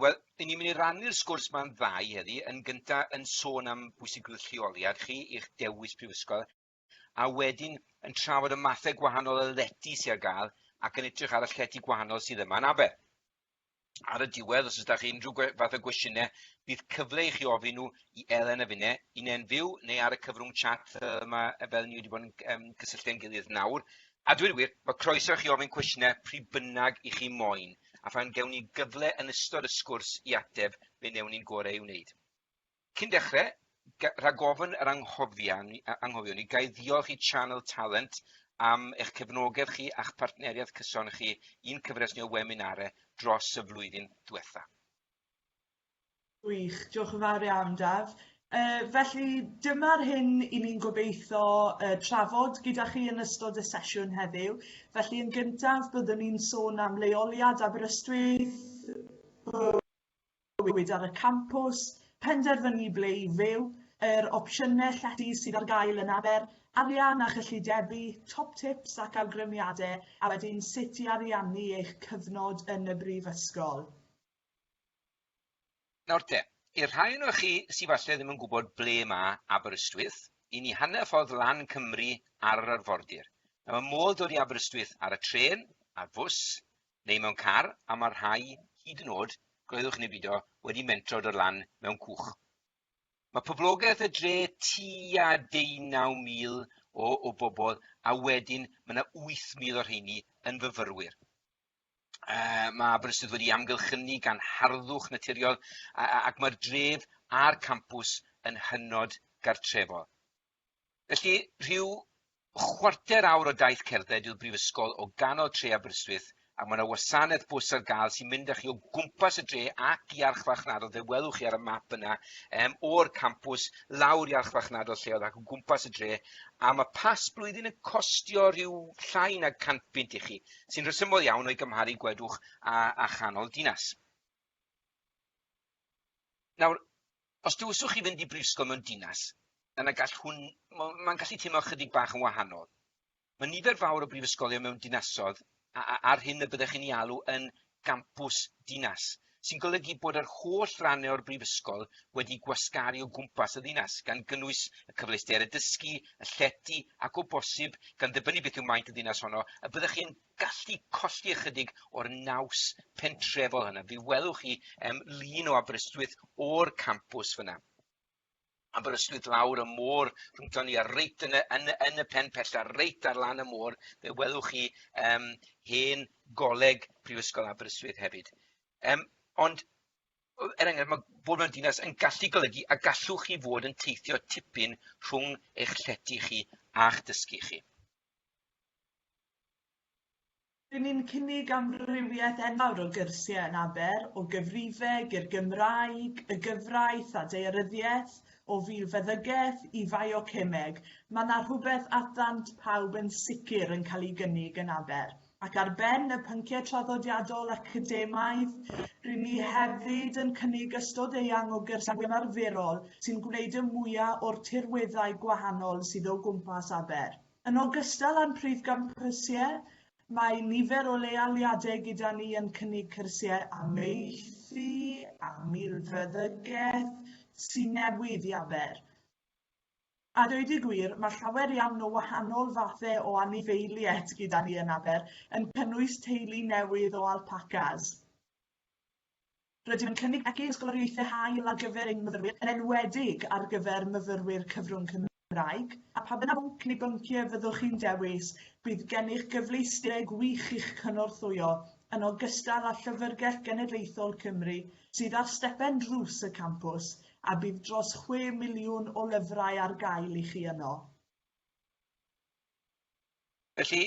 Wel, i ni'n mynd i rannu'r sgwrs ma'n ddau heddi. Yn gynta yn sôn am bwysigrwydd lleoliad chi i'ch dewis prifysgol, a wedyn yn trafod y mathau gwahanol o lety sydd ar gael ac yn edrych ar y llety gwahanol sydd yma yn Aber. Ar y diwedd, os ydych chi unrhyw fath o gwestiynau, bydd cyfle i chi ofyn nhw i Elen a finne, un e'n fyw neu ar y cyfrwng chat yma fel ni wedi bod yn um, cysylltu â'n gilydd nawr. A dwi'n wir, mae croeso i chi ofyn cwestiynau pryd bynnag i chi moyn. a phan gewn ni gyfle yn ystod y sgwrs i ateb, fe wnewn ni'n gorau ei wneud. Cyn dechrau, rhag ofn yr anghofion ni, gael ddiolch i Channel Talent am eich cefnogedd chi a'ch partneriaeth cyson chi i'n cyfres ni o weminare dros y flwyddyn diwetha. Gwych, diolch yn fawr iawn Daf. Yy felly dyma'r hyn 'yn ni'n gobeitho yy trafod gyda chi yn ystod y sesiwn heddiw. Felly yn gyntaf byddwn ni'n sôn am leoliad Aberystwyth, bywyd ar y campws, penderfynu ble i fyw, yr opsiynau llety sydd ar gael yn Aber, arian a chyllidebu, top tips ac awgrymiadau a wedyn sut i ariannu eich cyfnod yn y Brifysgol. Nawr te, i'r rhai ohonoch chi sy falle ddim yn gwybod ble ma Aberystwyth, i ni hanner ffordd lan Cymru ar yr arfordir. Nawr ma modd dod i Aberystwyth ar y trên, ar fws, neu mewn car, a ma rhai, hyd yn o'd, gwleddwch neu bido, wedi mentro dod lan mewn cwch. Mae poblogaeth y dre tua 19,000 o, o bobl, a wedyn mae yna 8,000 o'r rheini yn fyfyrwyr. Yy ma' Aberystwyth wedi amgylchynu gan harddwch naturiol a- a- ac mae'r dref a'r campws yn hynod gartrefol. Felly, rhyw chwarter awr o daith cerdded yw'r brifysgol o ganol tre Aberystwyth a mae yna wasanaeth bws ar gael sy'n mynd â chi o gwmpas y dre ac i archfarchnadol, fe welwch chi ar y map yna, um, o'r campws lawr i archfarchnadol lleol ac o gwmpas y dre, a mae pas blwyddyn yn costio rhyw llai na 100 bunt i chi. sy'n rhesymol iawn o'i gymharu gwedwch a, a chanol dinas. Nawr, os dywyswch chi fynd i brifysgol mewn dinas, yna gall hwn, mae'n gallu teimlo chydig bach yn wahanol. Mae nifer fawr o brifysgolion mewn dinasodd a'r hyn y byddech chi'n ei alw yn gampws dinas, sy'n golygu bod yr holl rannau o'r Brifysgol wedi gwasgaru o gwmpas y ddinas, gan gynnwys y cyfleusterau dysgu, y llety, ac o bosib, gan ddibynnu beth yw maint y ddinas honno, y byddwch chi'n gallu colli ychydig o'r naws pentrefol hynna. Fe welwch chi um, lun o Aberystwyth o'r campws fyna. Aberystwyth lawr y môr rhwngton ni a reit yn y yn y yn y pen pella reit ar lan y môr fe welwch chi yym hen goleg Prifysgol Aberystwyth hefyd. Yym ond er enghraifft ma' bod mewn dinas yn gallu golygu y gallwch chi fod yn teithio tipyn rhwng eich llety chi a'ch dysgu chi. Dyn ni'n cynnig amrywiaeth enfawr o gyrsiau yn Aber, o gyfrifeg i'r Gymraeg, y gyfraith a daearyddiaeth, o filfeddygaeth i fiocemeg, mae 'na rhywbeth at ddant pawb yn sicr yn cael ei gynnig yn Aber. Ac ar ben y pynciau traddodiadol academaidd, ry'n ni hefyd yn cynnig ystod eang o gyrsiau ymarferol sy'n gwneud y mwya' o'r tirweddau gwahanol sydd o gwmpas Aber. Yn ogystal â'n prif gam cyrsiau, mae nifer o leoliadau gyda ni yn cynnig cyrsiau amaethu a milfeddygaeth sy'n newydd i Aber. A dweud y gwir, mae llawer iawn o wahanol fathau o anifeiliaid gyda ni yn Aber, yn cynnwys teulu newydd o alpacas. Rydym yn cynnig megis ysgoloriaethau hael ar gyfer ein myfyrwyr, yn enwedig ar gyfer myfyrwyr cyfrwng Cymraeg, a pa bynnag bwnc neu bynciau fyddwch chi'n dewis, bydd gennych gyfleusterau gwych i'ch cynorthwyo, yn ogystal â Llyfrgell Genedlaethol Cymru sydd ar stepen drws y campws, a bydd dros chwe miliwn o lyfrau ar gael i chi yno. Felly,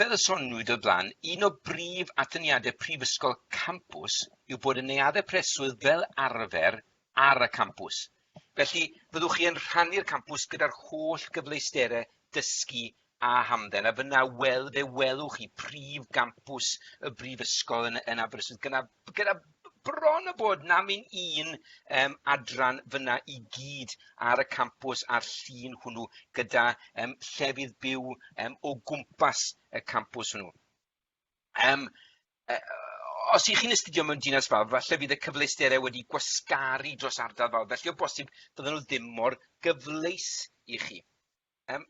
fel y soniwyd o'r blaen, un o brif atyniadau prifysgol campws yw bod y neuaddau preswyl fel arfer ar y campws. Felly, fyddwch chi yn rhannu'r campws gyda'r holl gyfleusterau dysgu a hamdden, a fyna wel, fe welwch chi prif gampws y brifysgol yn, yn Aberystwyth gyda, gyda bron a bod na myn un um, adran fyna i gyd ar y campws a'r llun hwnnw gyda um, llefydd byw um, o gwmpas y campws hwnnw. Um, uh, os ych chi'n astudio mewn dinas fawr, falle bydd y cyfleusterau wedi gwasgaru dros ardal fawr, felly o bosib bydden nhw ddim mor gyfleus i chi. Yym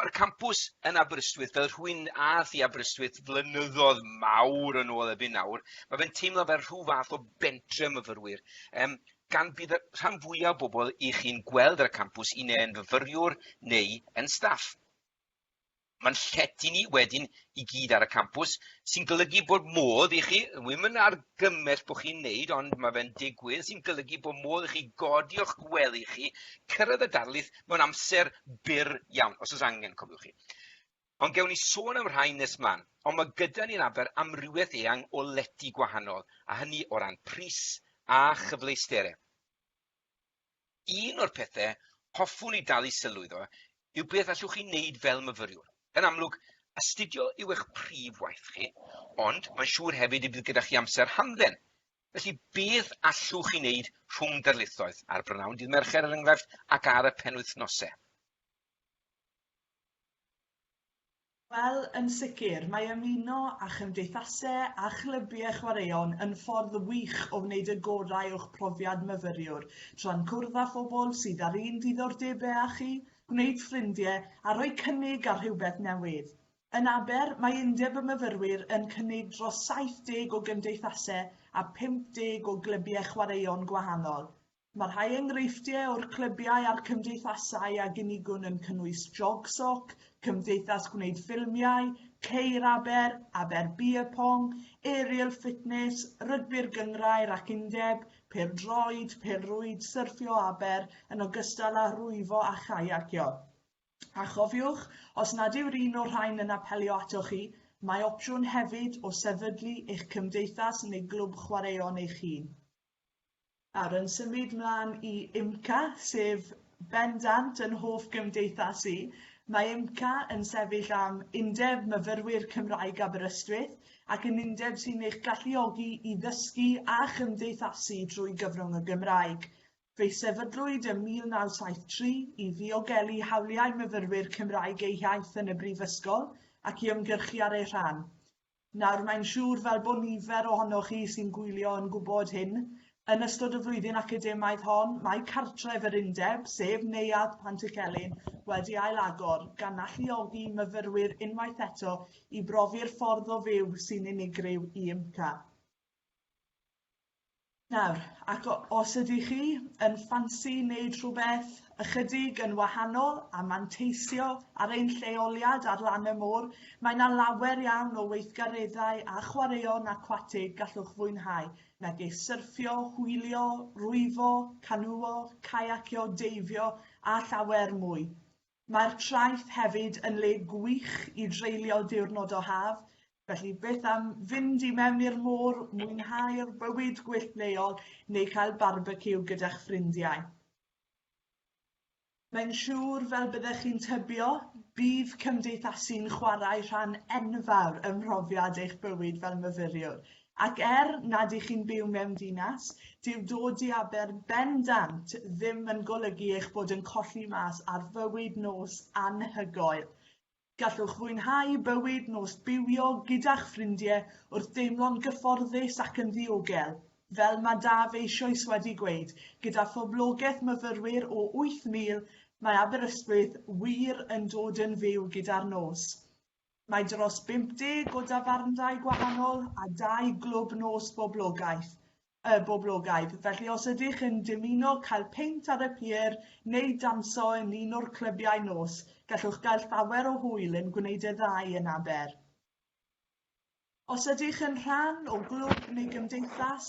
mae'r campws yn Aberystwyth fel rhywun ath i Aberystwyth flynyddodd mawr yn ôl erbyn nawr ma' fe'n teimlo fel rhyw fath o bentre myfyrwyr yym gan bydd y rhan fwya o bobol 'ych chi'n gweld ar y campws un neu'n fyfyriwr neu yn staff. Mae'n llety ni wedyn i gyd ar y campws sy'n golygu bod modd i chi wi'm yn argymell bo' chi'n neud ond ma' fe'n digwydd sy'n golygu bo' modd i chi godi o'ch gwely chi cyrraedd y darlith Mae'n amser byr iawn, os oes angen, cofiwch chi. Ond gewn ni sôn am rhai nes mlaen. Ond mae gyda ni'n aber amrywiaeth eang o lety gwahanol, a hynny o ran pris a chyfleustere. Un o'r pethau hoffwn i dalu sylw iddo yw beth allwch chi wneud fel myfyriwr. Yn amlwg, astudio yw eich prif waith chi, ond mae'n siŵr hefyd y bydd gyda chi amser hamdden, Felly, beth allwch chi wneud rhwng darlithoedd, ar brynawn dydd Mercher er enghraifft, ac ar y penwythnosau? Wel, yn sicr, mae ymuno â chymdeithasau a chlybiau chwaraeon yn ffordd wych o wneud y gorau o'ch profiad myfyriwr, tra'n cwrdd â phobl sydd â'r un diddordebau â chi, gwneud ffrindiau a rhoi cynnig ar rhywbeth newydd. Yn Aber, mae Undeb y Myfyrwyr yn cynnig dros 70 o gymdeithasau a 50 o glybiau chwaraeon gwahanol. Mae rhai enghreifftiau o'r clybiau a'r cymdeithasau a gynigwn yn cynnwys Jogsoc, Cymdeithas Gwneud Ffilmiau, Ceir Aber, Aber Beer Pong, Aerial Fitness, Rygbi'r Gynghrair ac Undeb, Pêl-droed, Pêl-rwyd, Syrffio Aber, yn ogystal â rhwyfo a chaiacio. A chofiwch, os nad yw'r un o'r rhain yn apelio atoch chi, mae opsiwn hefyd o sefydlu eich cymdeithas neu glwb chwaraeon eich hun. Nawr, yn symud mlaen i IMCA, sef bendant yn hoff gymdeithas i, mae IMCA yn sefyll am Undeb Myfyrwyr Cymraeg Aberystwyth ac yn undeb sy'n eich galluogi i ddysgu a chymdeithasu drwy gyfrwng y Gymraeg. Fe sefydlwyd ym 1973 i ddiogelu hawliau myfyrwyr Cymraeg eu hiaith yn y Brifysgol ac i ymgyrchu ar eu rhan. Nawr, mae'n siŵr, fel bod nifer ohonoch chi sy'n gwylio yn gwybod hyn, yn ystod y flwyddyn academaidd hon, mae cartref yr Undeb, sef Neuadd Pantycelyn, wedi ailagor, gan alluogi myfyrwyr unwaith eto i brofi'r ffordd o fyw sy'n unigryw i UMCA. Nawr, ac os ydych chi yn ffansi wneud rhywbeth ychydig yn wahanol a manteisio ar ein lleoliad ar lan y môr, mae 'na lawer iawn o weithgareddau a chwaraeon acwatig gallwch fwynhau, megis syrffio, hwylio, rwyfo, canŵo, caiacio, deifio a llawer mwy. Mae'r traeth hefyd yn le gwych i dreulio diwrnod o haf, felly beth am fynd i mewn i'r môr, mwynhau'r bywyd gwyllt leol neu cael barbeciw gyda'ch ffrindiau. Mae'n siŵr, fel byddech chi'n tybio, bydd cymdeithasu'n chwarae rhan enfawr ym mhrofiad eich bywyd fel myfyriwr. Ac er nad ych chi'n byw mewn dinas, dyw dod i Aber bendant ddim yn golygu eich bod yn colli mas ar fywyd nos anhygoel. Gallwch fwynhau bywyd nos bywio gyda'ch ffrindie wrth deimlo'n gyfforddus ac yn ddiogel, fel mae Daf eisioes wedi gweud, gyda phoblogaeth myfyrwyr o 8,000, mae Aberystwyth wir yn dod yn fyw gyda'r nos. Mae dros 50 o dafarndai gwahanol a dau glwb nos boblogaeth, y boblogaidd, felly os ydych yn dymuno cael peint ar y pier neu danso yn un o'r clybiau nos, gallwch gael llawer o hwyl yn gwneud y ddau yn Aber. Os ydych yn rhan o glwb neu gymdeithas,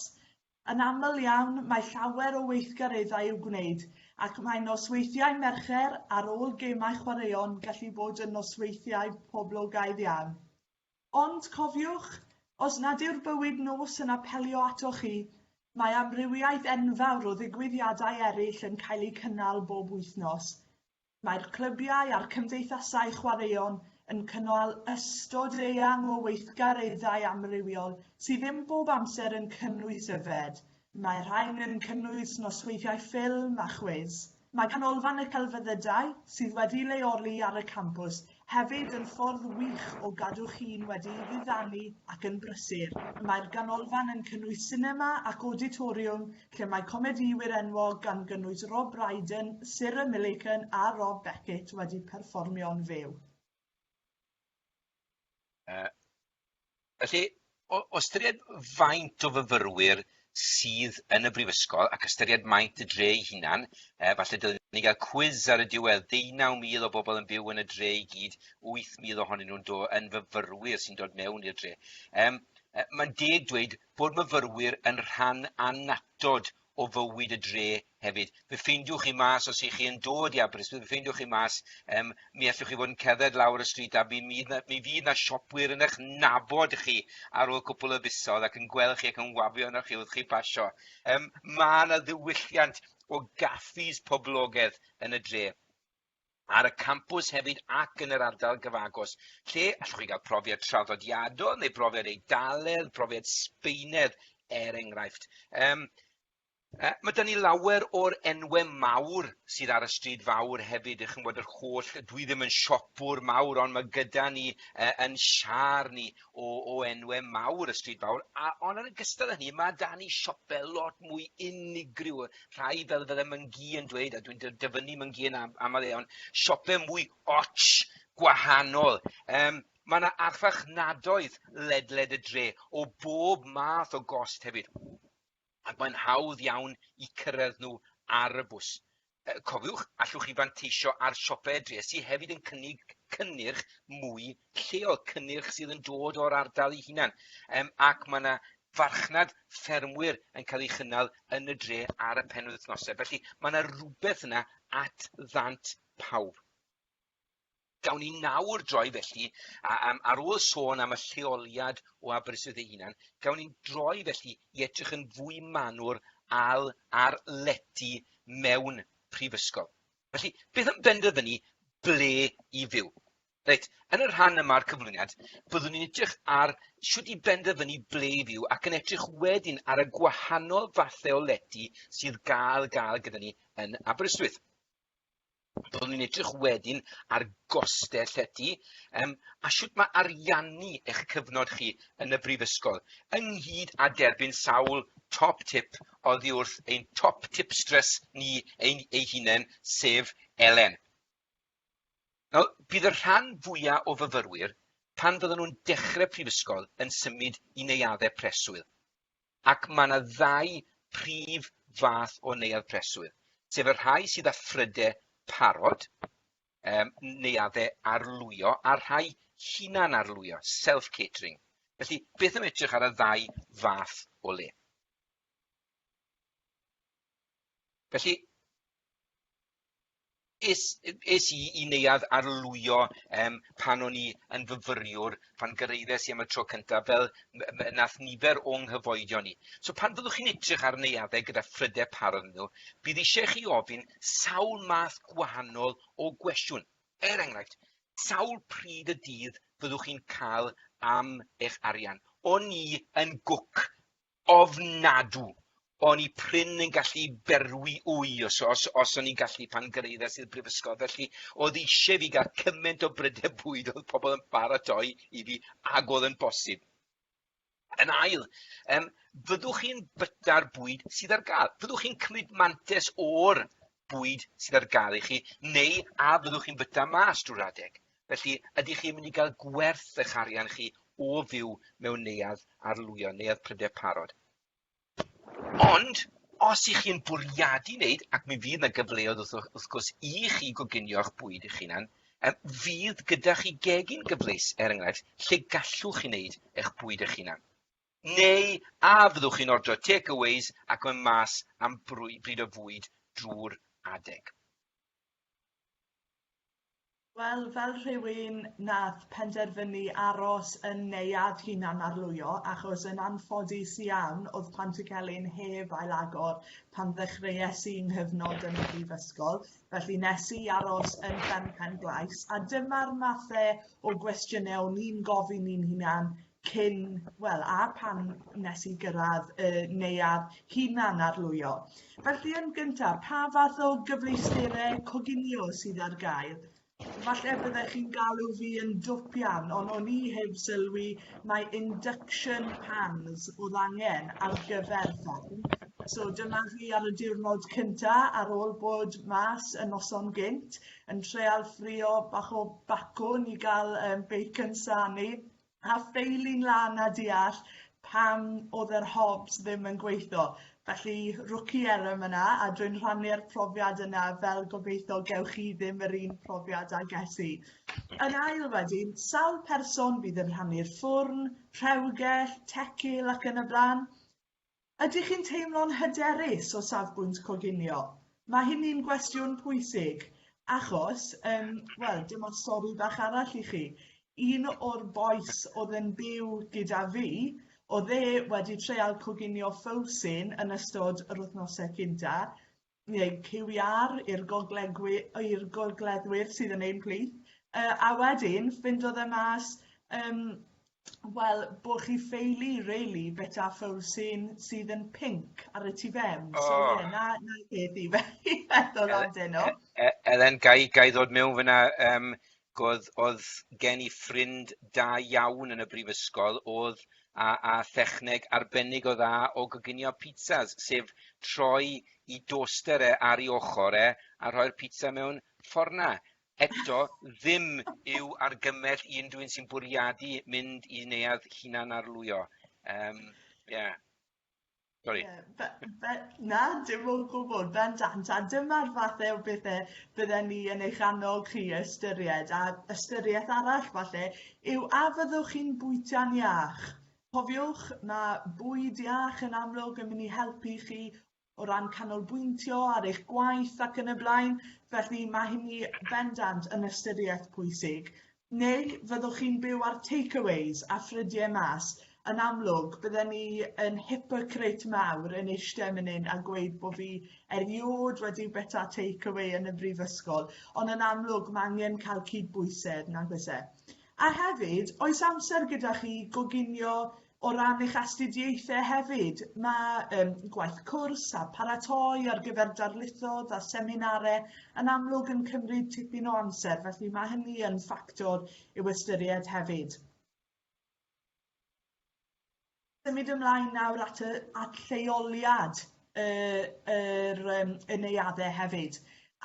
yn aml iawn mae llawer o weithgareddau i'w gwneud ac mae nosweithiau Mercher ar ôl gemau chwaraeon gallu bod yn nosweithiau poblogaidd iawn. Ond cofiwch, os nad yw'r bywyd nos yn apelio atoch chi, mae amrywiaeth enfawr o ddigwyddiadau eraill yn cael eu cynnal bob wythnos. Mae'r clybiau a'r cymdeithasau chwaraeon yn cynnal ystod eang o weithgareddau amrywiol sydd ddim bob amser yn cynnwys yfed, mae rhain yn cynnwys nosweithiau ffilm a chwiz. Mae Canolfan y Celfyddydau, sydd wedi leoli ar y campws, Hefyd yn ffordd wych o gadw chi'n wedi diddannu ac yn brysur. Mae'r ganolfan yn cynnwys sinema ac awditoriwm lle mae comedïwyr enwog gan gynnwys Rob Brydon, Sarah Millican a Rob Beckett wedi perfformio'n fyw. Felly, o o ystyried faint o fyfyrwyr sydd yn y brifysgol ac ystyried maint y dre ei hunan, yy falle dylwn ni gael cwis ar y diwedd, 19,000 o bobl yn byw yn y dre i gyd, 8,000 ohonyn nhw'n do- yn fyfyrwyr sy'n dod mewn i'r dre. Yym yy mae'n deg dweud bod myfyrwyr yn rhan annatod o fywyd y dre hefyd. Fe ffeindiwch chi mas os ych chi yn dod i Aberystwyth, fe ffeindiwch chi mas, um, mi allwch chi fod yn cerdded lawr y stryd a mi, mi, mi fydd na siopwyr yn eich nabod chi ar ôl cwpl o fisoedd ac yn gweld chi ac yn wafio yna chi wrth chi basio. Um, mae yna ddiwylliant o gaffis poblogaidd yn y dre. ar y campws hefyd ac yn yr ardal gyfagos, lle allwch chi gael profiad traddodiadol neu brofiad Eidaledd, profiad Sbeinedd er enghraifft. Um, Uh, mae dyn ni lawer o'r enwau mawr sydd ar y stryd fawr hefyd, ych chi'n bod yr holl, dwi ddim yn siopwr mawr, ond mae gyda ni uh, yn siar ni o, o enwe mawr y stryd fawr, a, ond yn ogystal â hynny, mae dan ni siope lot mwy unigryw, rhai fel fydde Myngi yn dweud, a dwi'n dyfynnu Myngi yn am, aml iawn, siope mwy och, gwahanol. Um, mae yna archfarchnadoedd ledled y dre o bob math o gost hefyd. ac mae'n hawdd iawn i cyrraedd nhw ar y bws. Cofiwch, allwch chi fanteisio ar siopau y dref sydd hefyd yn cynnig cynnyrch mwy lleol, cynnyrch sydd yn dod o'r ardal ei hunan, um, ac mae yna farchnad ffermwyr yn cael ei chynnal yn y dre ar y penwythnosau. Felly mae yna rhywbeth yna at ddant pawb. Gawn ni nawr droi felly, a, a, ar ôl sôn am y lleoliad o Aberystwyth ei hunan, gawn ni droi felly i edrych yn fwy manwr al ar lety mewn prifysgol. Felly, beth yn benderfynu ble i fyw? Reit, yn y rhan yma'r cyflwyniad, byddwn ni'n edrych ar sut i benderfynu ble i fyw ac yn edrych wedyn ar y gwahanol fathau o lety sydd gael gael gyda ni yn Aberystwyth. Byddwn ni'n edrych wedyn ar gostau llety um, a sut mae ariannu eich cyfnod chi yn y brifysgol, ynghyd â derbyn sawl top tip oddi wrth ein top tipstress ni ein ei hunain, sef Elen. Nawr, bydd y rhan fwyaf o fyfyrwyr, pan fydden nhw'n dechrau prifysgol, yn symud i neuaddau preswyl. Ac mae yna ddau prif fath o neuadd preswyl, sef y rhai sydd â phrydau parod, um, neuaddau arlwyo, a'r rhai hunan-arlwyo, self-catering. Felly, beth am edrych ar y ddau fath o le? Felly, es, es i i neuadd arlwyo um, pan o'n i yn fyfyriwr, pan gyrraeddes i am y tro cyntaf, fel nath nifer o'n nghyfoedion ni. So pan fyddwch chi'n edrych ar neuaddau gyda phrydau parod nhw, bydd eisiau chi ofyn sawl math gwahanol o gwestiwn. Er enghraifft, sawl pryd y dydd fyddwch chi'n cael am eich arian? O'n i yn gwc ofnadw. O'n i prin yn gallu berwi wy os os os o'n i'n gallu pan gyrraeddes i'r brifysgol felly oedd eisiau fi gael cymaint o brydau bwyd oedd pobl yn paratoi i fi ag oedd yn bosib. Yn ail, yym fyddwch chi'n byta'r bwyd sydd ar gael? Fyddwch chi'n cymryd mantes o'r bwyd sydd ar gael i chi, neu a fyddwch chi'n byta mas drwy'r adeg. Felly, ydych chi'n mynd i gael gwerth eich arian chi o fyw mewn neuadd arlwyo, neuadd pryder parod? Ond, os ych chi'n bwriadu wneud, ac mi fydd yna gyfleoedd wrth, wrth gwrs i chi goginio'ch bwyd eich hunan, fydd gyda chi gegin gyfleus, er enghraifft, lle gallwch chi wneud eich bwyd eich hunan. Neu a fyddwch chi'n ordro take-aways ac mynd mas am bryd o fwyd drwy'r adeg? Wel, fel rhywun nath penderfynu aros yn neuadd hunan-arlwyo achos yn anffodus iawn o'dd Pantycelyn heb ailagor pan ddechreues i 'nghyfnod yn y brifysgol, felly nes i aros yn Fferm Pen-glais a dyma'r mathe o gwestiyne o'n i'n gofyn i'n hunan cyn, wel, a pan nes i gyrraedd y neuadd hunan arlwyo. Felly yn gyntaf, pa fath o gyfleusterau coginio sydd ar gael? Falle byddech chi'n galw fi yn dwpian, ond o'n i heb sylwi mae induction pans oedd angen ar gyfer fferm. So dyma fi ar y diwrnod cynta ar ôl bod mas y noson gynt yn treal ffrio bach o bacwn i gael um, bacon sani a ffeili'n lan a deall pam oedd yr hobs ddim yn gweithio. Felly rookie error yna a dwi'n rhannu'r profiad yna fel gobeithio gewch chi ddim yr un profiad a ges i. Yn ail wedyn, sawl person fydd yn rhannu'r ffwrn, rhewgell, tecil ac yn y blaen? Ydych chi'n teimlo'n hyderus o safbwynt coginio? Mae hynny'n gwestiwn pwysig, achos, yym, wel, dyma stori bach arall i chi. Un o'r bois oedd yn byw gyda fi, oedd e wedi treial coginio ffowsyn yn ystod yr wythnosau cynta, neu QR i'r goglegwy- i'r gogleddwyr sydd yn ein plith yy a wedyn ffindodd e mas yym wel bo' chi ffeili rili bita ffowr sy'n sydd yn pinc ar y tu fewn oh. so ie na na peth i fe i feddwl amdano. Elen gai gai ddod mewn fyna yym Oedd, oedd gen i ffrind da iawn yn y brifysgol, oedd a, a thechneg arbennig o dda o goginio pizzas, sef troi i doster e ar ei ochr e a rhoi'r pizza mewn fforna. Eto, ddim yw argymell i unrhyw un sy'n bwriadu mynd i neuadd hunan-arlwyo. Um, yeah. Sorry. Yeah, but, but, na, dim o gwbl, bendant, a dyma'r fath o bethau bydden ni yn eich annog chi ystyried, a ystyriaeth arall falle yw a fyddwch chi'n bwyta'n iach. Cofiwch, mae bwyd iach yn amlwg yn mynd i helpu chi o ran canolbwyntio ar eich gwaith ac yn y blaen, felly mae hynny bendant yn ystyriaeth pwysig. Neu fyddwch chi'n byw ar takeaways a ffrydie mas? Yn amlwg bydden i yn hypocrite mawr yn eiste myn yn a gweud bo fi eriôd wedi byta takeaway yn y brifysgol ond yn amlwg ma angen cael cydbwysedd, nag oes e? A hefyd, oes amser gyda chi i goginio O ran eich astudiaethau hefyd, mae um, gwaith cwrs a paratoi ar gyfer darlithoedd a seminarau yn amlwg yn cymryd tipyn o amser, felly mae hynny yn ffactor i'w ystyried hefyd. Symud ymlaen nawr at, y, at lleoliad y yr yym y neuade hefyd.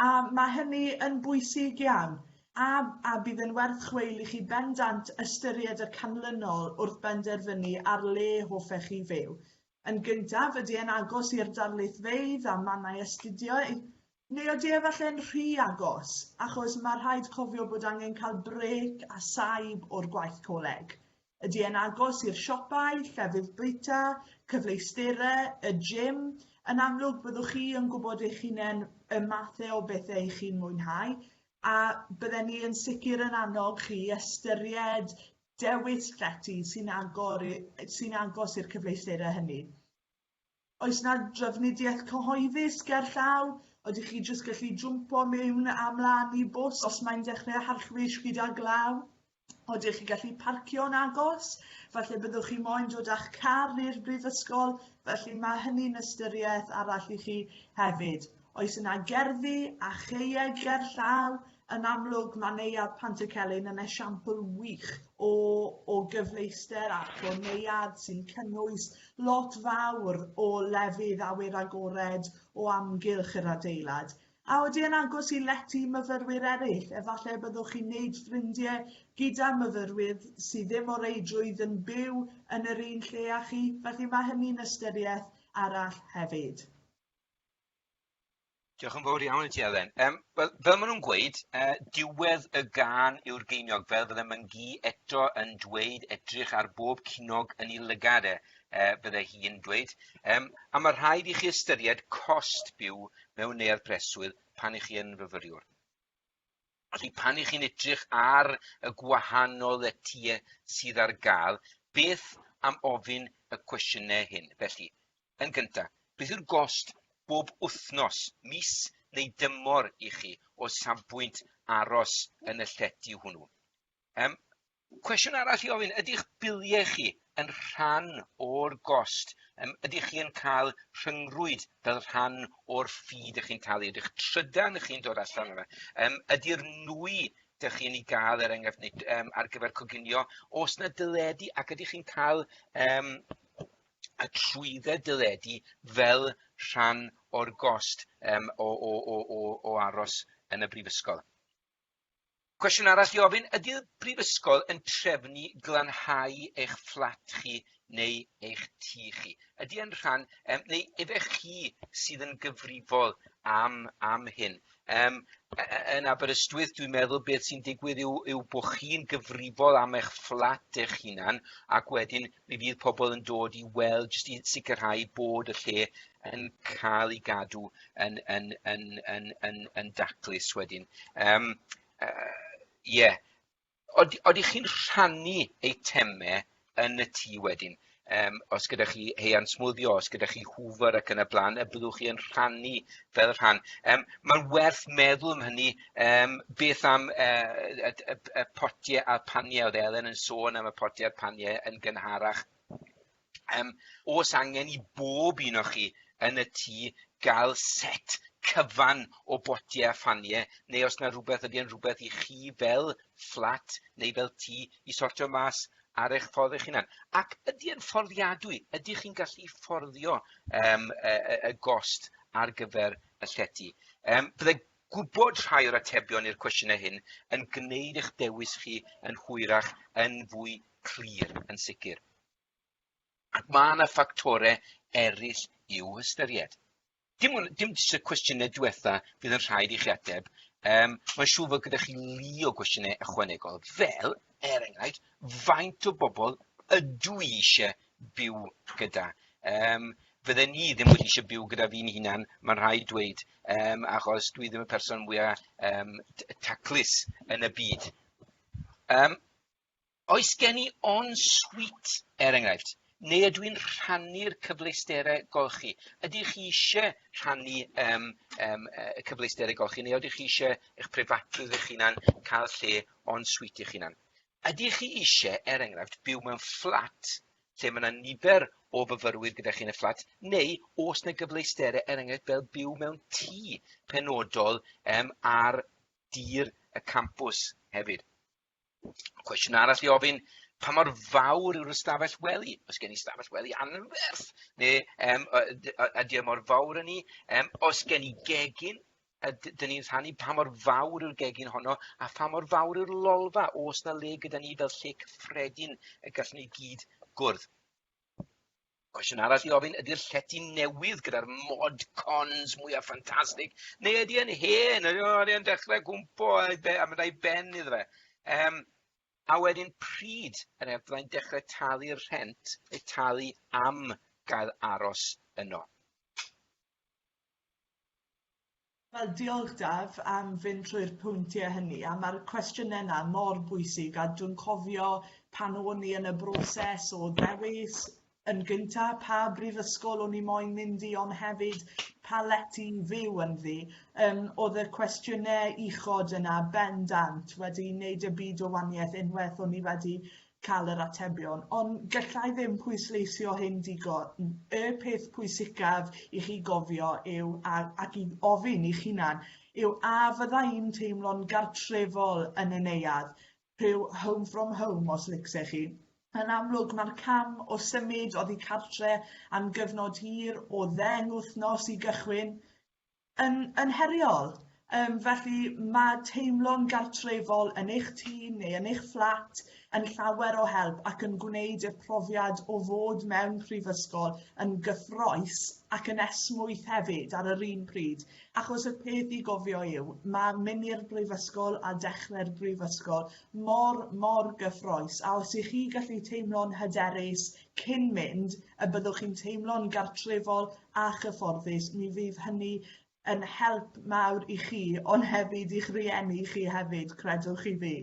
A ma' hynny yn bwysig iawn a a bydd yn werth chweil i chi bendant ystyried y canlynol wrth benderfynu ar le hoffech chi fyw. Yn gyntaf, ydy e'n agos i'r darlithfeydd a mannau astudio Neu odi e efalle'n rhy agos, achos ma' rhaid cofio bod angen cael brêc a saib o'r gwaith coleg. Ydi e'n agos i'r siopau, llefydd bwyta, cyfleustere, y gym? Yn amlwg, byddwch chi yn gwybod eich hunain y mathe o bethe i chi'n mwynhau, a bydden ni yn sicr yn annog chi i ystyried dewis llety sy'n agor i- sy'n agos i'r cyfleustere hynny. Oes 'na drafnidiaeth cyhoeddus ger llaw? Ydych chi jyst gallu jwmpo mewn a mlaen i bws os mae'n dechrau harchwys gyda glaw? Odych chi gallu parcio'n agos? Falle byddwch chi moyn dod â'ch car i'r brifysgol, felly mae hynny'n ystyriaeth arall i chi hefyd. Oes yna gerddi a chaeau gerllaw? Yn amlwg, mae Neuadd Pantycelyn yn esiampl wych o, o gyfleuster ac o neuadd sy'n cynnwys lot fawr o lefydd awyr agored o amgylch yr adeilad. A odi e'n agos i lety myfyrwyr eraill? Efallai byddwch chi'n neud ffrindiau gyda myfyrwyr sydd ddim o reidrwydd yn byw yn yr un lle â chi, felly mae hynny'n ystyriaeth arall hefyd. Diolch yn fawr iawn i ti, Elen. Um, wel, fel maen nhw'n gweud, uh, diwedd y gan yw'r geiniog, fel fydde Myngi eto yn dweud, edrych ar bob cinog yn ei lygad e, uh, bydde hi'n dweud. Um, a mae rhaid i chi ystyried cost byw mewn neuadd preswyl pan i chi yn fyfyriwr. Felly pan 'ych chi'n edrych ar y gwahanol lety sydd ar gael, beth am ofyn y cwestiynau hyn? Felly, yn gyntaf, beth yw'r gost bob wythnos, mis neu dymor i chi o safbwynt aros yn y llety hwnnw? Yym, Cwestiwn arall i ofyn, ydy'ch biliau chi yn rhan o'r gost? Yym, ydych chi yn cael rhyngrwyd fel rhan o'r ffi dych chi'n talu? Ydy'ch trydan chi'n dod allan o fe? Yym, ydy'r nwy dych chi'n ei gael, er enghraifft, neu um, ar gyfer coginio, os na dyledu, ac ydych chi'n cael um, y trwydded dyledu fel rhan o'r gost um, o, o, o, o, o aros yn y brifysgol. Cwestiwn arall i ofyn, ydy'r Brifysgol yn trefnu glanhau eich fflat chi neu eich tŷ chi? Ydy e'n rhan, um, neu efe chi sydd yn gyfrifol am, am hyn? Um, yn Aberystwyth, dwi'n meddwl beth sy'n digwydd yw, yw bod chi'n gyfrifol am eich fflat eich hunan ac wedyn Mi fydd pobl yn dod i weld jyst i sicrhau bod y lle yn cael ei gadw yn, yn, yn, yn, yn, yn daclus wedyn. Um, uh, yeah. Od, oeddech chi'n rhannu eitemau yn y tŷ wedyn? Um, os gyda chi heian smwddio, os gyda chi hwfer ac yn y blaen, y byddwch chi yn rhannu fel rhan. Um, Mae'n werth meddwl am hynny Yym beth am yy y y y y potie a'r panie o'dd Elen yn sôn am y potie a'r panie yn gynharach. Yym o's angen i bob un o chi yn y tŷ ga'l set cyfan o botie a phanie neu os 'na rwbeth ydi e'n rwbeth i chi fel fflat neu fel tŷ i sortio mas ar eich ffordd eich hunan? Ac ydi e'n fforddiadwy? Ydych chi'n gallu fforddio yym y y y gost ar gyfer y llety? Yym bydde gwybod rhai o'r atebion i'r cwestiynau hyn yn gwneud eich dewis chi yn hwyrach yn fwy clir, yn sicr. Ac mae yna ffactorau eraill i'w hystyried. Dim, ond, dim jyst y cwestiynau diwetha fydd yn rhaid i chi ateb, um, mae'n siŵr fod gyda chi lu o gwestiynau ychwanegol, fel, er enghraifft, faint o bobl ydw i eisiau byw gyda. Um, fydden ni ddim wedi eisiau byw gyda fi'n hunan, mae'n rhaid dweud, um, achos dwi ddim y person mwyaf um, taclus yn y byd. Um, oes gen i on sweet, er enghraifft, neu ydw i'n rhannu'r cyfleusterau golchi? Ydych chi eisiau rhannu um, um, y cyfleusterau golchi, neu ydych chi eisiau eich prifatrwydd eich hunan cael lle on sweet eich hunan? Ydych chi eisiau, er enghraifft, byw mewn fflat lle mae 'na nifer o fyfyrwyr gyda chi yn y fflat, neu oes 'na gyfleusterau, er enghraifft, fel byw mewn tŷ penodol um, ar dir y campws hefyd? Cwestiwn arall i ofyn, pa mor fawr yw'r ystafell wely? Os gen i ystafell wely anferth, neu um, ydy o e mor fawr yn ni? Um, os gen i gegin, a d- 'dyn ni'n rhannu pa mor fawr yw'r gegin honno a pha mor fawr yw'r lolfa o's 'na le gyda ni fel lle cyffredin y gallwn ni gyd gwrdd. Cwestiwn arall i ofyn ydy'r llety newydd gyda'r mod cons mwya ffantastig neu ydy e'n hen ydy o ydy e'n dechrau gwmpo a be- a mynd a'i ben iddo fe. Yym a wedyn pryd yr ef fyddai'n dechrau talu'r rhent neu talu am gael aros yno. Wel diolch Daf am fynd trwy'r pwyntie hynny a ma'r cwestiyne 'na mor bwysig a dwi'n cofio pan o'n i yn y broses o ddewis yn gynta' pa brifysgol o'n i moyn mynd i on' hefyd pa lety i fyw ynddi yym o'dd y cwestiyne uchod yna bendant wedi neud y byd o wanieth unweth o'n i wedi ca'l yr atebion ond gallai ddim pwysleisio hyn digon. Y peth pwysicaf i chi gofio yw a, ac i ofyn i'ch hunan yw a fydda i'n teimlo'n gartrefol yn y neuadd, rhyw home from home os licse chi. Yn amlwg mae'r cam o symud oddi cartre am gyfnod hir o ddeng wythnos i gychwyn Yn yn heriol. Yym felly ma' teimlo'n gartrefol yn eich tŷ neu yn eich fflat yn llawer o help ac yn gwneud y profiad o fod mewn prifysgol yn gyffrous ac yn esmwyth hefyd ar yr un pryd achos y peth i gofio yw ma' myn' i'r brifysgol a dechre'r brifysgol mor mor gyffrous a os 'ych chi gallu teimlo'n hyderus cyn mynd y byddwch chi'n teimlo'n gartrefol a chyfforddus mi fydd hynny yn help mawr i chi ond hefyd i'ch rhieni chi hefyd credwch chi fi.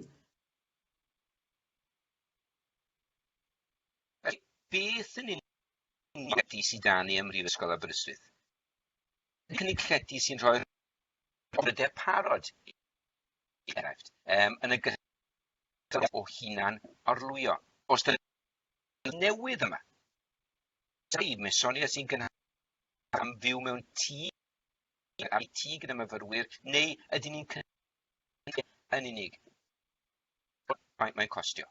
Beth yn union sydd da ni ym Mhrifysgol Aberystwyth? Cynnig llety sy'n rhoi'r brydau parod enghraifft um, yn y gyda o hunan orlwyo. Os dyn Dwi newydd yma. Dwi, mae Sonia sy'n gynhar am fyw mewn tŷ ar ei tŷ gyda myfyrwyr, neu ydyn ni'n cynhar yn unig? Mae'n mae costio.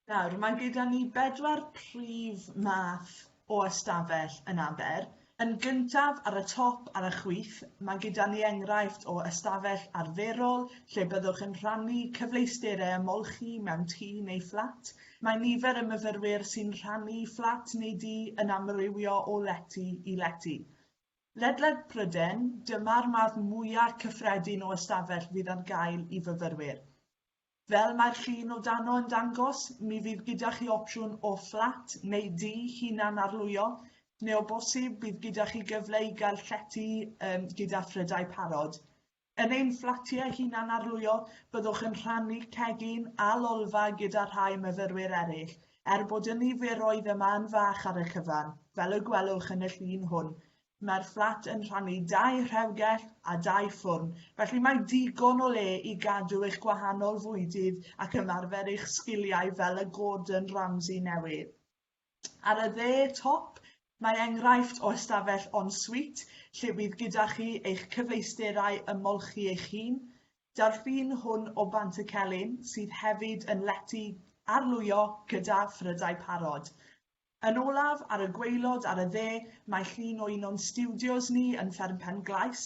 Nawr, mae gyda ni bedwar prif math o ystafell yn Aber, yn gyntaf ar y top ar y chwith, mae gyda ni enghraifft o ystafell arferol lle byddwch yn rhannu cyfleusterau ymolchi mewn tŷ neu fflat. Mae nifer y myfyrwyr sy'n rhannu fflat neu dŷ yn amrywio o lety i lety. Ledled Pryden, dyma'r math mwyaf cyffredin o ystafell fydd ar gael i fyfyrwyr. Fel mae'r llun o dano yn dangos, mi fydd gyda chi opsiwn o fflat neu dŷ hunan-arlwyo, neu o bosib bydd gyda chi gyfle i gael llety um, gyda phrydau parod. Yn ein fflatiau hunan-arlwyo, byddwch yn rhannu cegin a lolfa gyda rhai myfyrwyr eraill, er bod y niferoedd yma yn fach ar y cyfan, fel y gwelwch yn y llun hwn, Mae'r fflat yn rhannu dau rhewgell a dau ffwrn, felly mae digon o le i gadw eich gwahanol fwydydd ac ymarfer eich sgiliau fel y Gordon Ramsay newydd. Ar y dde top, mae enghraifft o ystafell en suite lle bydd gyda chi eich cyfleusterau ymolchi eich hun. Daw'r ffin hwn o Bantycelyn, sydd hefyd yn lety arlwyo gyda phrydau parod. Yn olaf, ar y gwaelod ar y dde, mae llun o un o'n stiwdios ni yn Fferm Pen-glais.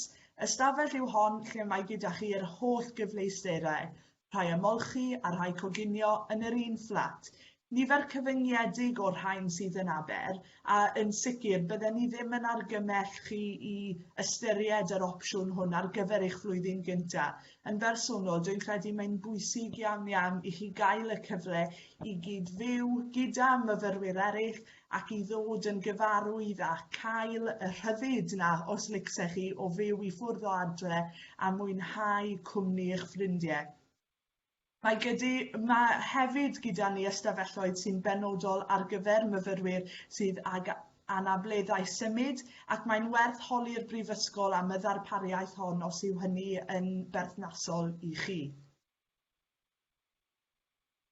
Ystafell yw hon lle mae gyda chi yr holl gyfleusterau, rhai ymolchi a rhai coginio yn yr un fflat. Nifer cyfyngiedig o'r rhain sydd yn Aber, a yn sicr bydden ni ddim yn argymell chi i ystyried yr opsiwn hwn ar gyfer eich flwyddyn gyntaf. Yn bersonol, dwi'n credu mae'n bwysig iawn iawn i chi gael y cyfle i gyd-fyw gyda myfyrwyr eraill ac i ddod yn gyfarwydd a cael y rhyddid na os licse chi o fyw i ffwrdd o adre a mwynhau cwmni eich ffrindiau. Mae gyda Mae hefyd gyda ni ystafelloedd sy'n benodol ar gyfer myfyrwyr sydd ag anableddau symud ac mae'n werth holi'r Brifysgol am y ddarpariaeth hon os yw hynny yn berthnasol i chi.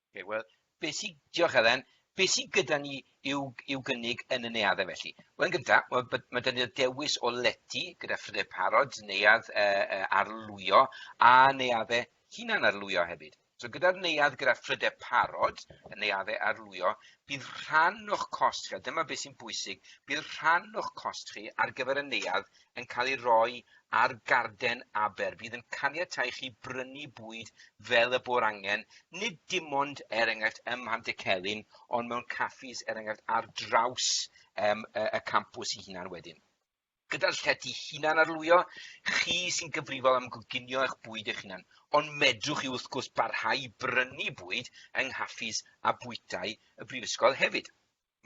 Ok, wel, Be sy... Diolch Elen. Be sy gyda ni i'w, i'w gynnig yn y neuaddau felly? Wel, yn gyntaf, mae, mae dyn ni'r dewis o lety gyda phrydau parod, neuadd e, e, arlwyo a neuaddau hunan arlwyo hefyd. So gyda'r neuadd gyda phrydau parod, y neuaddau arlwyo, bydd rhan o'ch cost chi, a dyma beth sy'n bwysig, bydd rhan o'ch cost chi ar gyfer y neuadd yn cael ei roi ar garden aber. Bydd yn caniatau chi brynu bwyd fel y bo'r angen, nid dim ond er enghraifft ym Mhantycelyn, ond mewn caffis er enghraifft ar draws um, y, y campws i hunan wedyn. Gyda'r llety hunan arlwyo, chi sy'n gyfrifol am goginio eich bwyd eich hunan, ond medrwch chi wrth gwrs barhau brynu bwyd yng nghaffis a bwytai y brifysgol hefyd.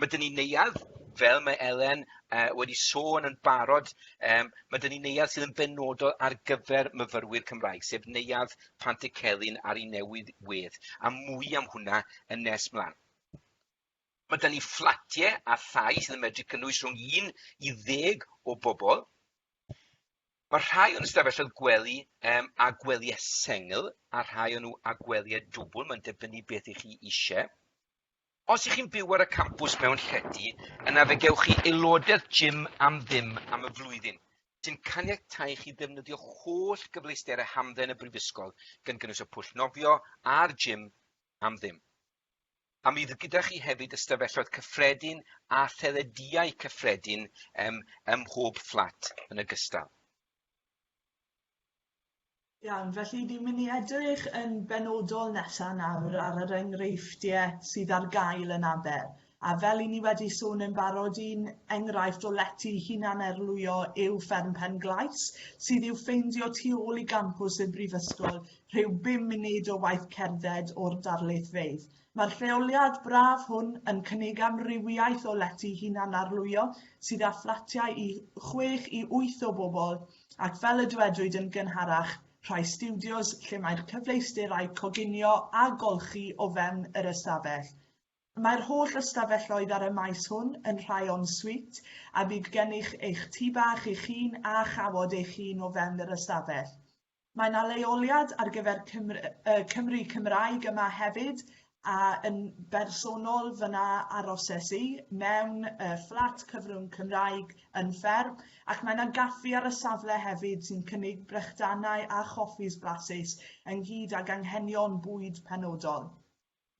ma' 'dyn ni neuadd fel mae Elen yy wedi sôn yn barod yym ma' 'dyn ni neuadd sydd yn benodol ar gyfer myfyrwyr Cymraeg sef neuadd Pantycelyn ar 'i newydd wedd a mwy am hwnna yn nes mlan. Ma' 'dyn ni fflatie a thai sydd yn medru cynnwys rhwng un i ddeg o bobol. Ma' rhai o'n ystafelloedd gwely yym â gwelie sengl a rhai o nw â gwelie dwbwl ma'n dibynnu beth 'ych chi isie. Os y'ch chi'n byw ar y campws mewn llety, yna fe gewch chi aelodaeth gym am ddim am y flwyddyn, sy'n caniatáu i chi ddefnyddio holl gyfleusterau hamdden y Brifysgol, gan gynnwys y pwll nofio a'r gym, am ddim. A mi fydd gyda chi hefyd ystafelloedd cyffredin a thelediau cyffredin ym mhob fflat yn ogystal. Iawn, felly ni'n mynd i edrych yn benodol nesa nawr ar yr enghreifftiau sydd ar gael yn aber. A fel i ni wedi sôn yn barod, un enghraifft o lety hunan erlwyo yw Fferm Pen Glais, sydd i'w ffeindio tu ôl i gampws y Brifysgol, rhyw bum munud o waith cerdded o'r darlithfeydd. Mae'r lleoliad braf hwn yn cynnig amrywiaeth o lety hunan arlwyo sydd â fflatiau i chwech i wyth o bobl, ac fel y dywedwyd yn gynharach, rhai stiwdios lle mae'r cyfleusterau coginio a golchi o fewn yr ystafell. Mae'r holl ystafelloedd ar y maes hwn yn rhai en suite a bydd gennych eich tŷ bach eich hun a chawod eich hun o fewn yr ystafell. Mae 'na leoliad ar gyfer Cymru Cymraeg yma hefyd A yn bersonol fy' 'na aroses i mewn yy fflat cyfrwng Cymraeg yn fferm ac mae 'na gaffi ar y safle hefyd sy'n cynnig brechdanau a choffis blasus ynghyd ag anghenion bwyd penodol.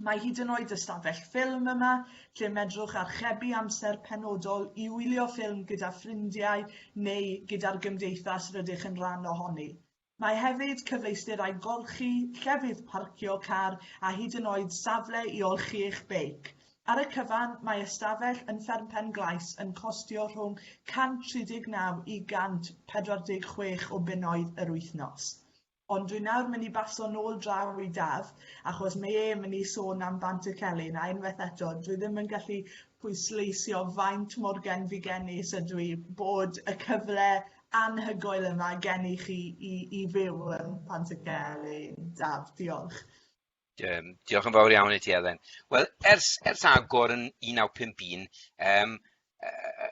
Mae hyd yn oed ystafell ffilm yma lle medrwch archebu amser penodol i wylio ffilm gyda ffrindiau neu gyda'r gymdeithas rydych yn rhan ohoni. Mae hefyd cyfleusterau golchi, llefydd parcio car a hyd yn oed safle i olchi eich beic. Ar y cyfan, mae ystafell yn Fferm Pen-glais yn costio rhwng 139 i 146 o bunnoedd yr wythnos. Ond dwi nawr mynd i baso nôl draw i Daf achos mae e mynd i sôn am Bant-y-celyn a unwaith eto dwi ddim yn gallu pwysleisio faint mor genfigennus ydw i bod y cyfle anhygoel yma gen i chi i i fyw yn Pantycelyn. Daf, diolch. Um, diolch yn fawr iawn i ti, Elen. Wel, ers, ers agor yn 1951, um, uh,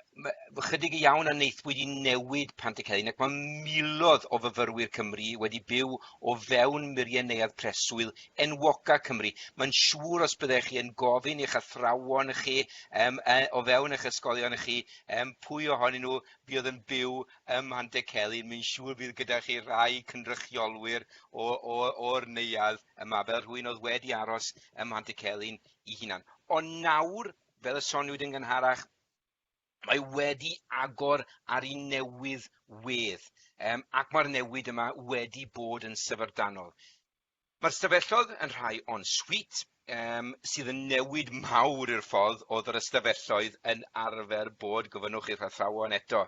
chydig iawn a wnaethpwyd i newid Pantycelyn ac mae milodd o fyfyrwyr Cymru wedi byw o fewn muriau neuad preswyl enwoca Cymru. Mae'n siŵr os byddech chi yn gofyn i'ch athrawon chi um, uh, o fewn eich ysgolion chi um, pwy ohonyn nhw fi oedd yn byw ym Mhantycelyn, mi'n siŵr bydd gyda chi rai cynrychiolwyr o, o, o'r neuadd yma, fel rhywun oedd wedi aros ym Mhantycelyn i hunan. Ond nawr, fel y soniwyd yn gynharach, mae wedi agor ar un newydd wedd, um, ac mae'r newid yma wedi bod yn syfrdanol. Mae'r stafelloedd yn rhai en suite yym sydd yn newid mawr i'r ffordd oedd yr ystafelloedd yn arfer bod, gofynnwch i'r athrawon eto.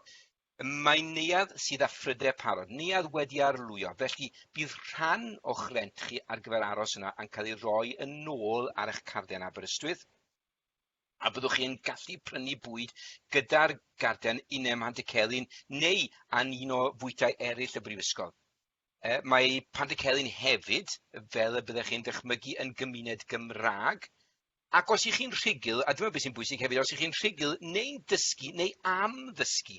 Mae'n neuadd sydd â phrydau parod, neuadd wedi arlwyo, felly bydd rhan o'ch rent chi ar gyfer aros yno yn cael ei roi yn ôl ar eich carden Aberystwyth, a byddwch chi yn gallu prynu bwyd gyda'r garden Inem Hantycelyn neu yn un o fwytai eraill y Brifysgol. Yy mae Pantycelyn hefyd, fel y byddech chi'n dychmygu, yn gymuned Gymraeg, ac os 'ych chi'n rhugl, a dyma beth sy'n bwysig hefyd, os 'ych chi'n rhugl neu'n dysgu neu am ddysgu,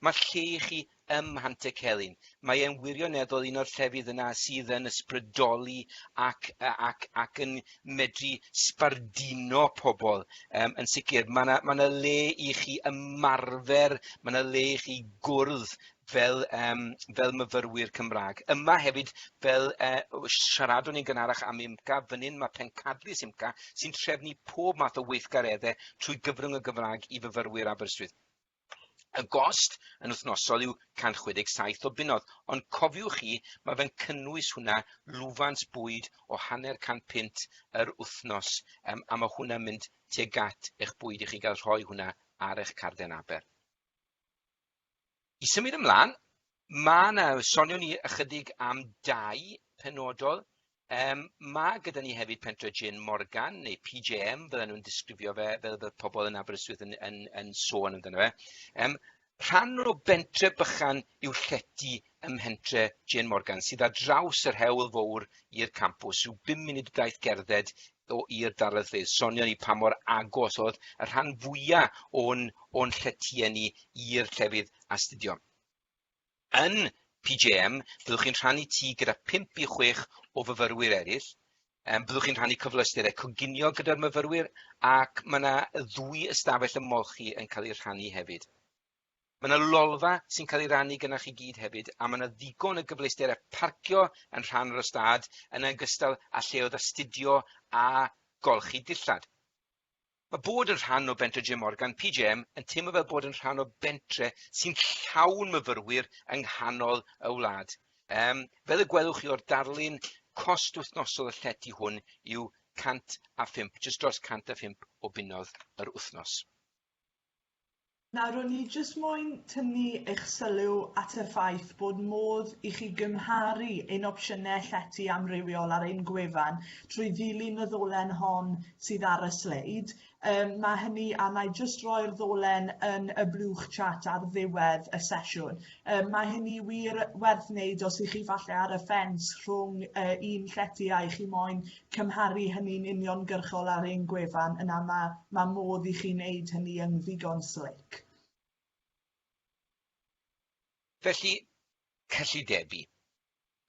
mae'r lle i chi ym Mhantycelyn. Mae e'n wirioneddol un o'r llefydd yna sydd yn ysbrydoli ac, yy, ac, ac yn medru sbarduno pobl um, yn sicr. Mae yna ma le i chi ymarfer, mae yna le i chi gwrdd fel yym fel myfyrwyr Cymra'g. Yma hefyd fel yy w- siaradwn ni'n gynharach am UMCA fyn 'yn ma' pencadlys UMCA sy'n trefnu pob math o weithgaredde trwy gyfrwng y Gymra'g i fyfyrwyr Aberystwyth. Y gost yn wthnosol yw 167 o bunnodd ond cofiwch chi ma' fe'n cynnwys hwnna lwfans bwyd o hanner can punt yr wthnos yym a ma' hwnna'n mynd tuag at eich bwyd i chi ga'l rhoi hwnna ar eich carden aber. I symud ymlaen, ma' 'na, sonio ni ychydig am dai penodol, um, ma' gyda ni hefyd pentre Jin Morgan, neu PJM, fel nhw'n disgrifio fe, fel fel pobl yn Aberystwyth yn, yn, yn, yn sôn amdano fe. Um, rhan o bentre bychan yw llety ym mhentre Jin Morgan, sydd ar draws yr hewl fowr i'r campws, rhyw bum munud daith gerdded o i'r darlithydd, sonio ni pa mor agos oedd y rhan fwya o'n, o'n lletie ni i'r llefydd astudio. Yn PJM, byddwch chi'n rhannu tŷ gyda 5 i 6 o fyfyrwyr eraill, um, byddwch chi'n rhannu cyfleusterau coginio gyda'r myfyrwyr ac mae yna ddwy ystafell ymolchi yn cael eu rhannu hefyd. Mae yna lolfa sy'n cael ei rannu gynna'ch chi gyd hefyd, a mae yna ddigon o gyfleusterau parcio yn rhan o'r ystâd, yn ogystal â lleoedd astudio a golchi dillad. Mae bod yn rhan o Bentre Jim Morgan, PJM, yn teimlo fel bod yn rhan o bentre sy'n llawn myfyrwyr yng nghanol y wlad. Um, fel y gwelwch chi o'r darlun, cost wythnosol y llety hwn yw 105, jyst dros 105 o bunnoedd yr wythnos. Nawr, o'n i jyst moyn tynnu eich sylw at y ffaith bod modd i chi gymharu ein opsiynau llety amrywiol ar ein gwefan trwy ddilyn y ddolen hon sydd ar y sleid. Um, mae hynny, a na i jyst roi'r ddolen yn y blwch chat ar ddiwedd y sesiwn. Um, mae hynny wir werth wneud os ych chi falle ar y ffens rhwng uh, un llety a i chi moyn cymharu hynny'n uniongyrchol ar ein gwefan, yna mae, mae modd i chi wneud hynny yn ddigon slic. Felly, cyllidebu.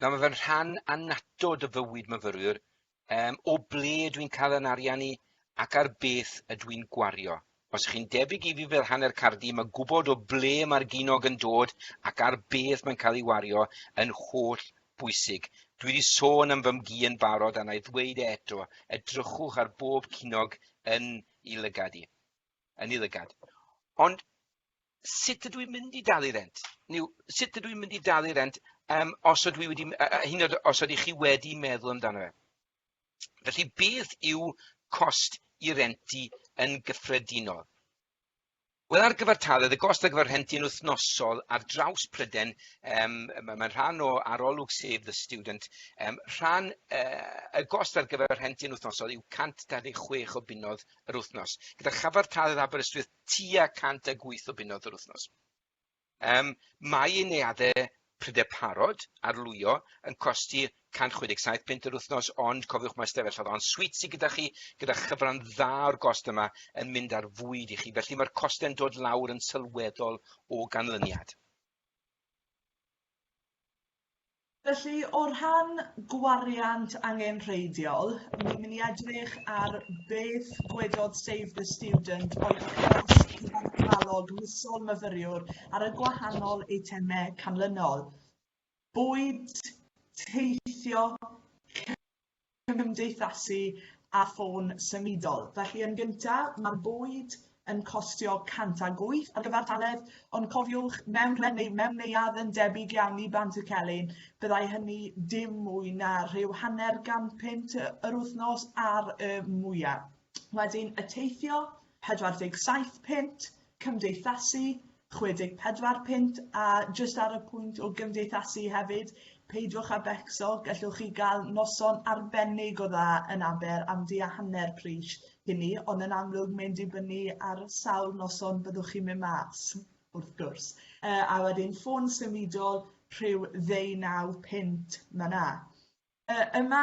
Nawr mae fe'n rhan annatod o fywyd myfyrwyr, um, o ble dwi'n cael yn arian i ac ar beth ydw i'n gwario Os chi'n debyg i fi fel hanner cardi, mae gwybod o ble mae'r ginog yn dod ac ar beth mae'n cael ei wario yn holl bwysig. Dwi wedi sôn am fy mgi yn barod a na i ddweud e eto, edrychwch ar bob cinog yn i lygad i. Yn i lygad. Ond sut ydw i'n mynd i dalu rent? Neu sut ydw i'n mynd i dalu rent um, os ydw i wedi, uh, hyn os ydych chi wedi meddwl amdano fe? Felly, beth yw cost i rentu yn gyffredinol? Wel, ar gyfartaledd, y gost ar gyfer rhenti yn wythnosol ar draws Pryden, um, mae'n ma rhan o arolwg Save the Student, um, rhan, uh, y gost ar gyfer rhenti yn wythnosol yw 126 o bunodd yr wythnos, gyda chyfartaledd Aberystwyth tua 108 o bunodd yr wythnos. Ym Mae i neuaddau prinder parod, arlwyo, yn costi 167 punt yr wythnos ond cofiwch mae stafell oedd on suite sydd gyda chi gyda chyfran dda o'r gost yma yn mynd ar fwyd i chi felly mae'r costau'n dod lawr yn sylweddol o ganlyniad. Felly o rhan gwariant angenrheidiol, ni'n mynd i edrych ar beth gwedodd Save the Student o'i achos cyfartalog misol myfyriwr ar y gwahanol eitemau canlynol, bwyd, teithio, cymdeithasu a ffôn symudol. Felly yn gynta, mae'r bwyd yn costio 108 ar gyfer taledd, ond cofiwch, mewn rhen neu mewn neuadd yn debyg iawn i Bant y Celyn, byddai hynny dim mwy na rhyw hanner gan pint yr wythnos ar y mwyaf. Wedyn y teithio, 47 pint, cymdeithasu, 64 punt a jyst ar y pwynt o gymdeithasu hefyd, peidiwch â becso, gallwch chi gael noson arbennig o dda yn Aber am du a hanner pris hynny, ond yn amlwg mae'n dibynnu ar sawl noson byddwch chi'n mynd mas, wrth gwrs. Uh, a wedyn ffôn symudol rhyw ddeunaw punt, mae na. Yy yma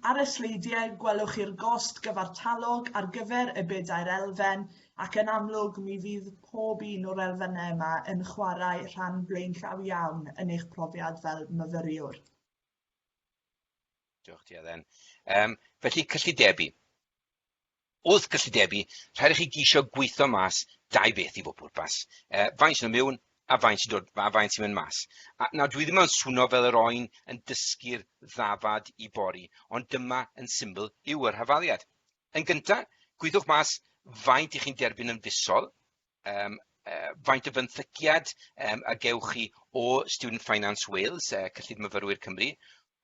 ar y sleidiau gwelwch chi'r gost gyfartalog ar gyfer y bedair elfen ac yn amlwg mi fydd pob un o'r elfennau yma yn chwarae rhan blaenllaw iawn yn eich profiad fel myfyriwr. Diolch ti Eden. Um, felly cyllidebu. Wrth gyllidebu, rhaid i chi geisio gweithio mas dau beth i bob pwrpas, uh, faint sy'n mewn a faint sy'n dod, a faint sy'n mynd mas. A, nawr, dwi ddim yn swno fel yr oen yn dysgu'r ddafad i bori, ond dyma yn syml yw yr hafaliad. Yn gyntaf, gwyddwch mas faint i chi'n derbyn yn fisol, yym yy faint o fenthyciad yym a gewch chi o Student Finance Wales, yy Cyllid Myfyrwyr Cymru,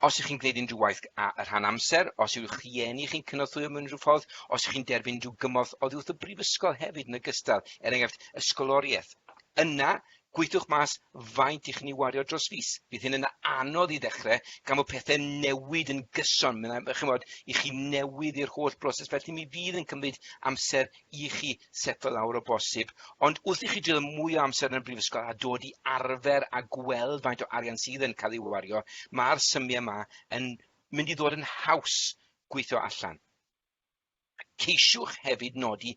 os ych chi'n gwneud unrhyw waith a- a rhan amser, os yw'ch rhieni chi'n cynorthwyo mewn unrhyw ffordd, os ych chi'n derbyn unrhyw gymorth oddi wrth y brifysgol hefyd yn ogystal, er enghraifft ysgoloriaeth. Yna, Gweithiwch mas faint i chni wario dros fis. Bydd hyn yn anodd i ddechrau gan fod pethau'n newid yn gyson. Mae'n chymod i chi newydd i'r holl broses felly mi fydd yn cymryd amser i chi setlo lawr o bosib. Ond wrth i chi drio mwy o amser yn y brifysgol a dod i arfer a gweld faint o arian sydd yn cael ei wario, mae'r symiau yma yn mynd i ddod yn haws gweithio allan. Ceisiwch hefyd nodi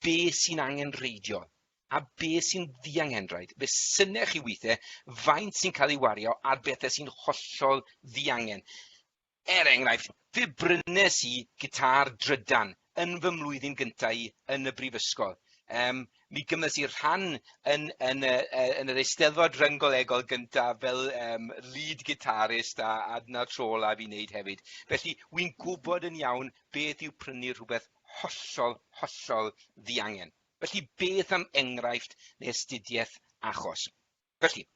be sy'n angenrheidiol a be sy'n ddiangenrhaid. Fe synech chi weithiau faint sy'n cael ei wario ar bethau sy'n hollol ddiangen. Er enghraifft, fe brynes i gitâr drydan yn fy mlwyddyn gyntaf i yn y brifysgol. Um, mi gymys i rhan yn yn y yy yn yr Eisteddfod Ryngolegol gynta fel um, lead guitarist a adna tro la fi wneud hefyd. Felly, wy'n gwybod yn iawn beth yw prynu rhywbeth hollol, hollol ddiangen. Felly, beth am enghraifft neu astudiaeth achos? Felly,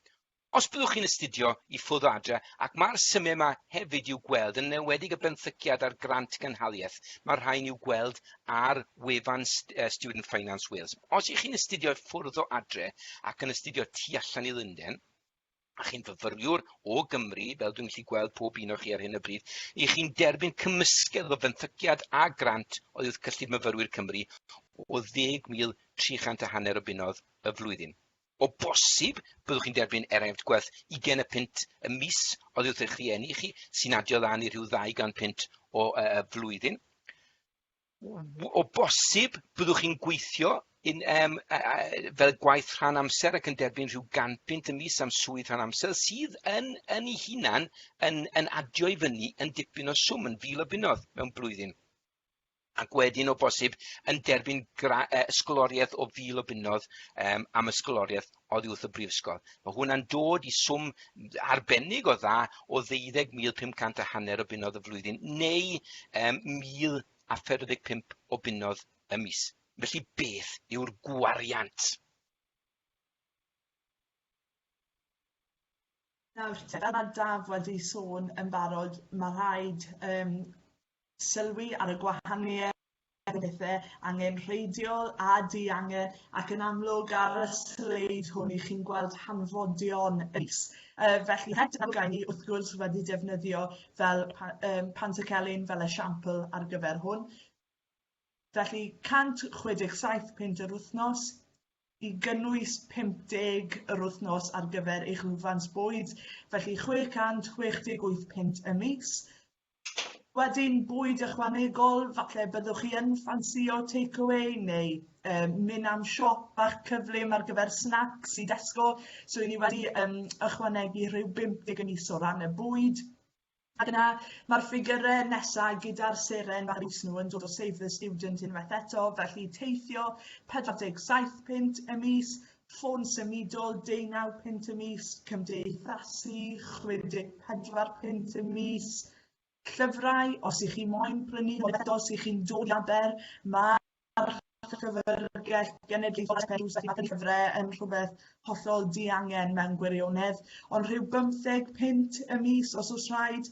Os byddwch chi'n astudio i ffwrdd o adre, ac mae'r symiau yma hefyd i'w gweld, yn enwedig y benthyciad a'r grant gynhaliaeth, mae'r rhain i'w gweld ar wefan Student Finance Wales. Os ych chi'n astudio i ffwrdd o adre ac yn astudio tu allan i Lundain, a chi'n fyfyriwr o Gymru, fel dwi'n gallu gweld pob un o chi ar hyn o bryd, i chi'n derbyn cymysgedd o fenthyciad a grant oddi wrth Cyllid Myfyrwyr Cymru o 10,300 a hanner o bunnoedd y flwyddyn. O bosib, byddwch chi'n derbyn eraenft gwerth ugain y punt y mis oddi wrth eich rhieni chi, sy'n adio lan i rhyw ddau gan punt o y flwyddyn. O bosib, byddwch chi'n gweithio yn, um, fel gwaith rhan amser ac yn derbyn rhyw ganpunt y mis am swydd rhan amser sydd yn, yn ei hunan yn, yn adio i fyny yn dipyn o swm, yn fil o bunnoedd mewn blwyddyn. ac wedyn o bosib yn derbyn gra- yy ysgoloriaeth o fil o bunnoedd um, am ysgoloriaeth oddi wrth y brifysgol. Mae hwnna'n dod i swm arbennig o dda o 12,500 a hanner o bunnoedd y flwyddyn neu um, 1,045 o bunnoedd y mis. Felly beth yw'r gwariant? Nawr, fel ma' Daf wedi sôn yn barod ma' rhaid yym sylwi ar y gwahanieth ar y pethe angenrheidiol a diangen ac yn amlwg ar y sleid hwn 'ych chi'n gweld hanfodion y llys yy felly het y amgueddfa ni wrth gwrs wedi defnyddio fel pa- yym Pantycelyn fel esiampl ar gyfer hwn. Felly, 167 punt yr wythnos, i gynnwys 50 yr wythnos ar gyfer eich lwfans bwyd, felly 668 punt y mis. Wedyn, bwyd ychwanegol, falle byddwch chi yn ffansio takeaway neu um, mynd am siop bach cyflym ar gyfer snacks i Tesco. So, i ni wedi um, ychwanegu rhyw 50 yn is o ran y bwyd. Ac yna, mae'r ffigyre nesa gyda'r seren ar is nhw yn dod o Save the Student unwaith eto, felly teithio 47 punt y mis, ffôn symudol 19 punt y mis, cymdeithasu 64 punt y mis, llyfrau, os ych chi moyn prynu nhw eto os ych chi'n dod i Aber, mae Mae'r Llyfrgell Genedlaethol a Phennaeth Rhys Ifans Llyfrau yn rhywbeth hollol diangen mewn gwirionedd, ond rhyw bymtheg punt y mis os oes rhaid,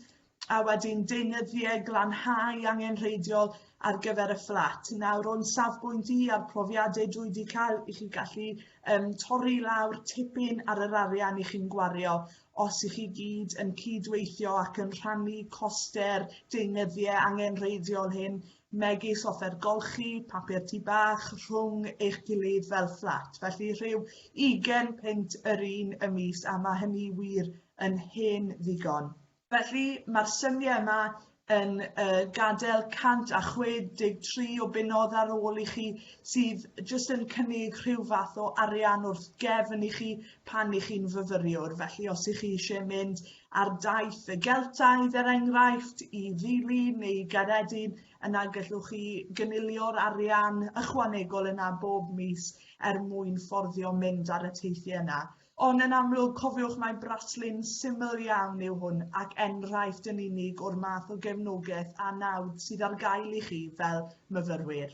a wedyn deunyddiau glanhau angenrheidiol ar gyfer y fflat. Nawr, o'n safbwynt i a'r profiadau dwi wedi cael, i chi gallu um, torri lawr tipyn ar yr arian i chi'n gwario os i chi gyd yn cydweithio ac yn rhannu coster deunyddiau angenrheidiol hyn megis offer golchi, papur tŷ bach, rhwng eich gilydd fel fflat, felly rhyw ugain punt yr un y mis a mae hynny wir yn hen ddigon. Felly, mae'r symiau yma yn gadael 163 o bunnoedd ar ôl i chi sydd jyst yn cynnig rhyw fath o arian wrth gefn i chi pan i chi'n fyfyriwr, felly os i chi eisiau mynd Ar daith y Geltaidd, er enghraifft, i Ddili neu Gaeredin, yna gallwch chi gynilio'r arian ychwanegol yna bob mis er mwyn fforddio mynd ar y teithiau yna. Ond yn amlwg, cofiwch mai braslun syml iawn yw hwn ac enghraifft yn unig o'r math o gefnogaeth a nawdd sydd ar gael i chi fel myfyrwyr.